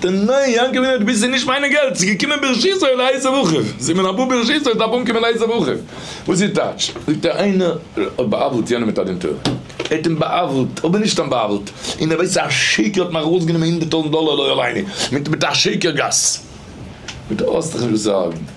די ניין יענקעלע האט ביז נישט מיינע געלט ס'איז געקומען ברשות אל הייסע בחור זי מען אבא ברשות אל דארף אנקומען הייסע בחור וואס איז טייטש זאגט ער איינער האט בא'עוול'ט יענעם מיט א דין תורה ער האט אים בא'עוול'ט אבער נישט סתם בא'עוול'ט און ער ווייסט אז א שיכור האט מיך ארויסגענומען הונדערט טויזנט דאלער לא עליני מיט מיט א שקר גס מיט האסט דיך נישט וואס צו הארגען.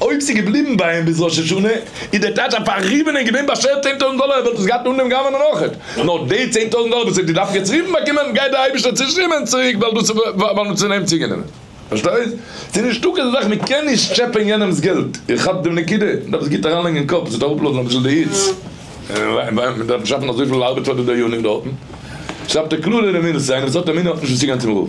אויב ס'איז געבליבן ביי אים ביז ראש השנה, איז דער טאטע א פארריבענער און געווען באשערט צען טויזנט דאלער, ער וואלט עס געהאט אן דעם גאוה נאכעט. נאר די צען טויזנט דאלער וואס ער האט געדארפט יעצט רופן באקומען, גייט דער אייבערשטער צושטרעמען צוריק ווייל דאס איז ווייל מען האט פון אים צוגענומען. פארשטייסט? ס'איז נישטא כזו זאך מען קען נישט טשעפען יענעמ'ס געלט. איר כאפט דעם נקודה? מען דארף עס גוט אריינלייגן אין קאפ, עס וועט אראפלאזן אביסל די היץ. מען דארף נישט שאפן אזויפיל ארבעט פאר די דיינים דארטן. שרייבט ער קלאר אין אמונה, איינער וואס האט אמונה האט נישט וואס צוגיין צום רב.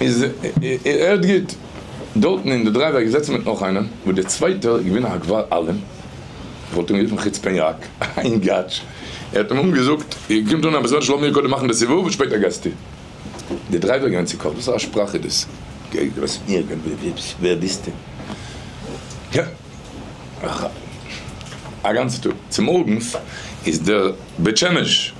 איז ער האט גוט דארטן אין די דרייוועי געזעצן מיט נאך איינעם וואס דער צווייטער איז געווען א הגבר אלים, איך וואלט אים גערופן חוצפן יאק, אין גאטש, ער האט אים אמאל געזאגט איר קומט אן אביסעל זשע לאמיר קודם מאכן די סיבוב און שפעטער גייסטו. דער דרייווער איז געווען צוקאכט, וואס פאר א שפראך איז דאס? גייט דער באס מיט מיר? ווער ביסטו? יא איך א גאנצע טאג, צומארגנס איז דער בית שמש.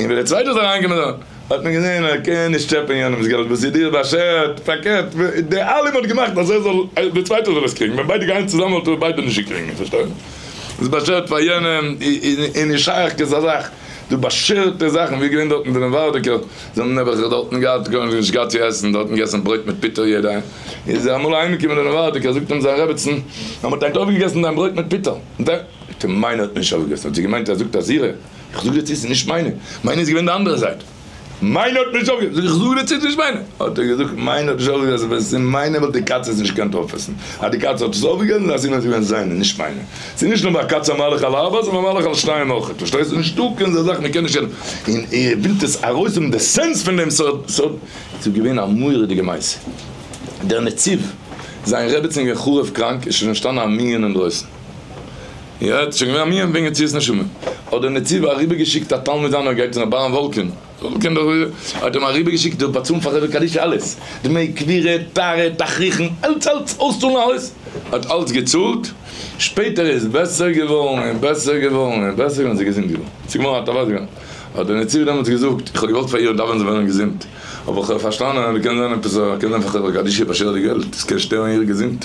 און ווען דער צווייטער איז אריינגעקומען דאן האט מען געזען ער קען נישט טשעפען יענעמ'ס געלט וואס איז דיר באשערט, פארקערט דער אלעם האט געמאכט אז ער זאל דער צווייטער זאל עס קריגן, ווען ביידע גייען צוזאמען וואלט ער ביידע נישט געקריגן, פארשטייט? איז באשערט פאר יענעם איז נישט שייך כזא זאך, דו באשערטע זאכן, ווי איז געווען דארטן ביינעם ווערדיגער, זיי האבן נעבעך דארטן געהאט גארנישט נישט געהאט צו עסן, דארטן געעסן ברויט מיט פיטער יעדע, איז ער אמאל אהיימגעקומען דער ווערדיגער זאגט אים זיין רעבעצן אז מען האט היינט אויפגעגעסן דיין ברויט מיט פיטער, די מיינע האט מען נישט אויפגעגעסן, האט זי געמיינט ער זאגט אז אירע. איך זאג דיר צו ס'נישט מיינע, מיינע איז געווען די אנדערע זייט, מיינע האט נישט אויפגעגעבן, זאג איך, איך זאג דיר צו ס'נישט מיינע, האט ער געזאגט, מיינע האט נישט אויפגעגעבן, אז ווען ס'איז מיינע וואלט די קאצע עס נישט געקענט אויפעסן, אז די קאצע האט עס אויפגעגעבן דאן סימן אז ס'איז געווען זיינע, נישט מיינע, ס'איז נישט נאר ביי א קאצע א מהלך על ארבע, ס'איז א מהלך על שתיים אויכעט, פארשטייסטו? נישטא קיין אזא זאך, מ'קען נישט, און איר ווילט עס ארויסהאבן די סענס פון דעם, ס'האט, ס'האט, ס'איז געווען א מורא'דיגע מעשה, דער נציב, זיין רעבעצין איז געווען חרוב קראנק, איז שוין אנטשטאנען א מנין אינדרויסן. יעצט שוין געווען א מנין וועגן יציאת נשמה, האט דער נציב אריבער געשיקט א תלמיד זיינער גייט צו ר' אברהם וואלקין, האט אים אריבער געשיקט זאל באצאלן פאר חברה קדישא אלעס, דמי קבירה, טהרה, תכריכן, אלץ אלץ, אויסצאלן אלעס, האט אלץ געצאלט, שפעטער איז בעסער געווארן און בעסער געווארן און בעסער געווארן, זי איז געזונט געווארן, ס'איז געווארן א טובה זיין, האט דער נציב דעמאלטס געזאגט, איך האב געוואלט פאר איר דאווענען זאל ווערן געזונט, אבער איך האב פארשטאנען אז קען זיין עפעס, קען זיין פאר חברה קדישא פאר שווערע געלט, עס קען שטערן איר געזונט.